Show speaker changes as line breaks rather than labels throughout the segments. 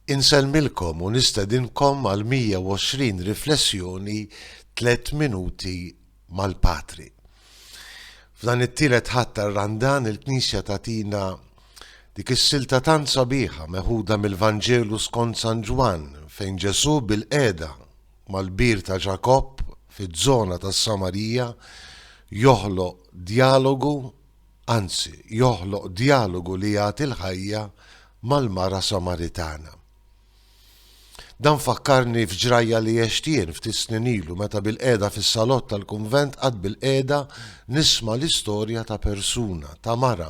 Insellmilkom u nistedinkom għal 120 riflessjoni tliet minuti mal-Patri. F'dan it-tielet ħadd tar-Randan il-Knisja tatina dik is-silta tant sabiħa meħuda mill-Vanġelu skont San Ġwann fejn Ġesù bil-qiegħda mal-bir ta' Ġakobb fiż-żona tas-Samarija joħloq djalogu anzi, joħloq djalogu li jagħti l-ħajja mal-mara Samaritana. Dan fakkarni f'ġrajja li għext jien ftit snin ilu meta bilqiegħda fis-salott tal-kunvent qatt bilqiegħda nisma' l-istorja ta' persuna, ta' mara,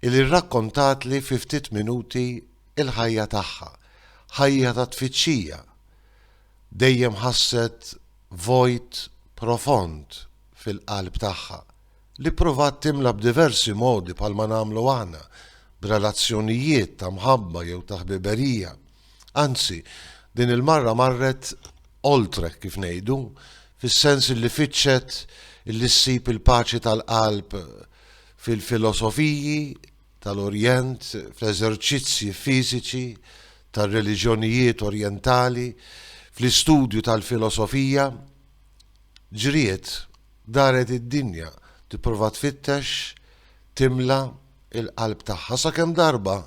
li rrakkontatli fi ftit minuti l-ħajja tagħha, ħajja ta' tfittxija. Dejjem ħasset vojt profond fil-qalb tagħha. li ppruvat timla b'diversi modi bħalma nagħmlu aħna, b'relazzjonijiet ta' mħabba jew ta' ħbiberija. Anzi, din il-marra marret oltre, kif ngħidu, fis-sens illi fittxet illi ssib il-paċi tal-qalb fil-filosofiji tal-Orjent, fl-eżerċizzji fiżiċi tar-reliġjonijiet Orjentali, fl-istudju tal-filosofija. Ġriet Daret id-dinja tipprova tfittex timla l-qalb tagħha sakemm darba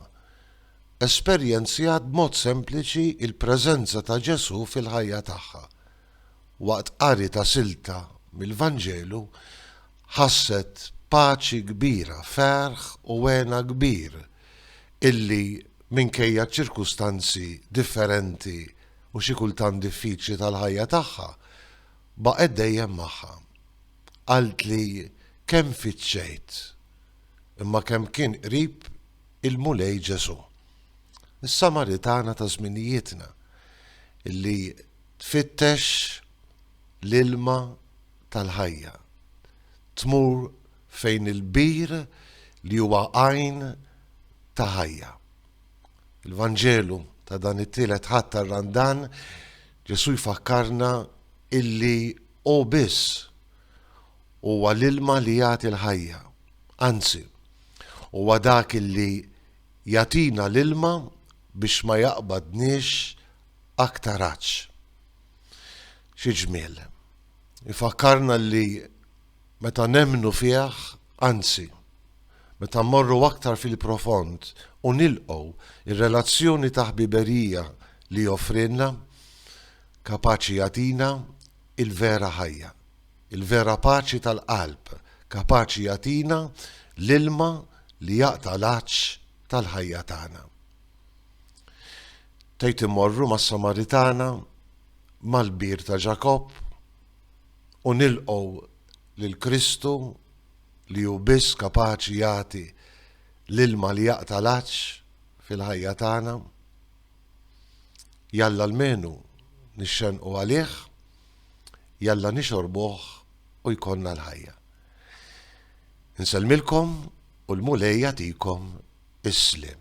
esperjenzjat b'mod sempliċi l-preżenza ta' Ġesù fil-ħajja tagħha. Waqt qari ta' silta mill-Vanġelu ħasset paċi kbira, ferħ u hena kbir illi minkejja ċ-ċirkustanzi differenti u xi kultant diffiċli tal-ħajja tagħha, Baqgħet dejjem magħha. Qaltli kemm fittxejt, imma kemm kien qrib il-Mulej Ġesù. Is-Samaritana ta' żminijietna li tfittex l-ilma tal-ħajja. Tmur fejn il-bir li huwa għajn ta' ħajja. Il-Vanġelu ta' dan it-tielet Ħadd tar-Randan, Ġesù jfakkarna illi hu biss huwa l-ilma li jagħti l-ħajja. Anzi, huwa dak illi jagħtina l-ilma biex ma jaqbadniex aktar għatx. Xi ġmiel! Ifakkarna li Meta nemmnu fih, anzi, meta mmorru aktar fil-profond u nilqgħu r-relazzjoni ta' ħbiberija li joffrilna, kapaċi jagħtina l-vera ħajja, il-vera paċi tal-qalb, kapaċi jagħtina l-ilma li jaqta' l-għatx tal-ħajja tagħna. Tgħid immorru mas-Samaritana, mal-bir ta' Ġakobb, u nilqgħu lil Kristu li hu biss kapaċi jagħti l-ilma li jaqta' l-għatx fil-ħajja tagħna. Jalla almenu nixxenqu għalih, jalla nixorbuh u jkollna l-ħajja. Insellmilkom u l-Mulej jagħtikom is-sliem.